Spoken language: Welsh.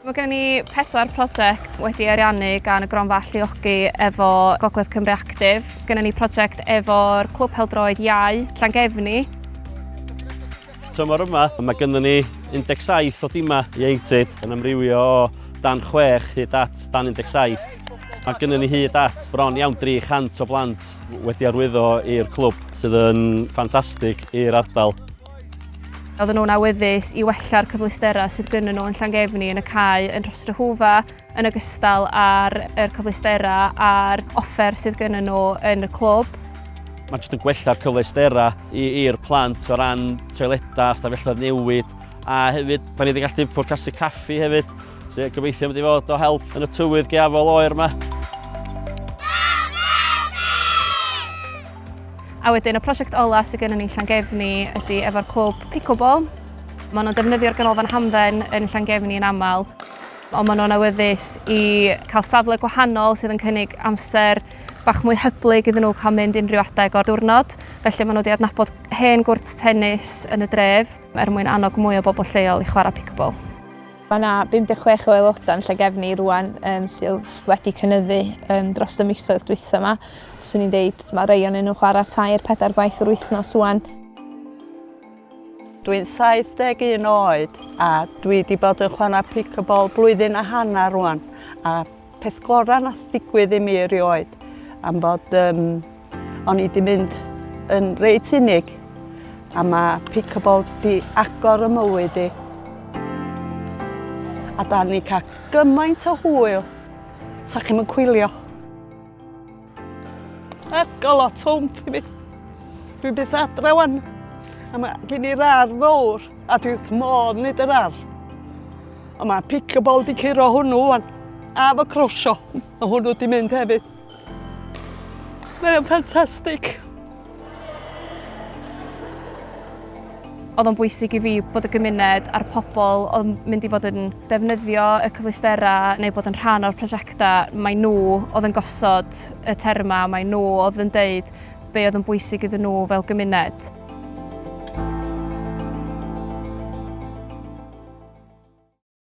Mae gen ni pedwar prosiect wedi ariannu gan y Gronfa Alluogi efo Gogledd Cymru Actif. Gen ni prosiect efo'r Clwb Peldroed Iau, Llangefni. Tymor yma, mae gen ni 17 o dimau ieuenctid yn amrywio o dan 6 hyd at dan 17. Mae gen ni hyd at bron iawn 300 o blant wedi arwyddo i'r clwb sydd yn ffantastig i'r ardal. Oedden nhw'n awyddus i wella'r cyfleusterau sydd gynnyn nhw yn Llangefni yn y cae yn Rhostryhwfa yn ogystal â'r er cyfleusterau a'r offer sydd gynnyn nhw yn y clwb. Mae'n jyst yn gwella'r cyfleusterau i'r plant o ran toiledau, stafelloedd newid a hefyd da ni wedi gallu pwrcasu caffi hefyd sy'n gobeithio mynd i fod o help yn y tywydd geafol oer yma. A wedyn y prosiect ola sydd gennym ni'n Llangefni ydy efo'r clwb pickleball. Maen nhw'n defnyddio'r ganolfan hamdden yn Llangefni yn aml ond maen nhw'n awyddus i cael safle gwahanol sydd yn cynnig amser bach mwy hyblyg iddyn nhw cael mynd unrhyw adeg o'r diwrnod. Felly maen nhw wedi adnabod hen gwrt tennis yn y dref er mwyn annog mwy o bobl lleol i chwarae pickleball. Mae yna 56 o aelodau yn Llangefni rwan um, sydd wedi cynyddu um, dros y misoedd dwytha yma. Swn i'n deud mae rei o'n nhw'n chwarae tair pedair gwaith yr wythnos rwan. Dwi'n 71 oed a dwi wedi bod yn chwarae pickleball blwyddyn a hanner rwan a Peth gorau nath ddigwydd i mi erioed am fod um, o'n i wedi mynd yn reit unig a mae pickleball di agor y mywyd i. A da ni cael gymaint o hwyl, sa chi'n mynd cwylio. Ac o lot o wmff i mi. Dwi'n byth adre wan. A mae gen i'r ar fawr, a dwi wrth modd nid yr ar. A mae pickleball di curo hwnnw wan. A fo crosio, a hwnnw di mynd hefyd. Mae'n ffantastig. Oedd o'n bwysig i fi bod y gymuned a'r pobl oedd mynd i fod yn defnyddio y cyfleusterau neu bod yn rhan o'r prosiectau, mae nhw oedd yn gosod y termau, mae nhw oedd yn deud be oedd yn bwysig iddyn nhw fel gymuned.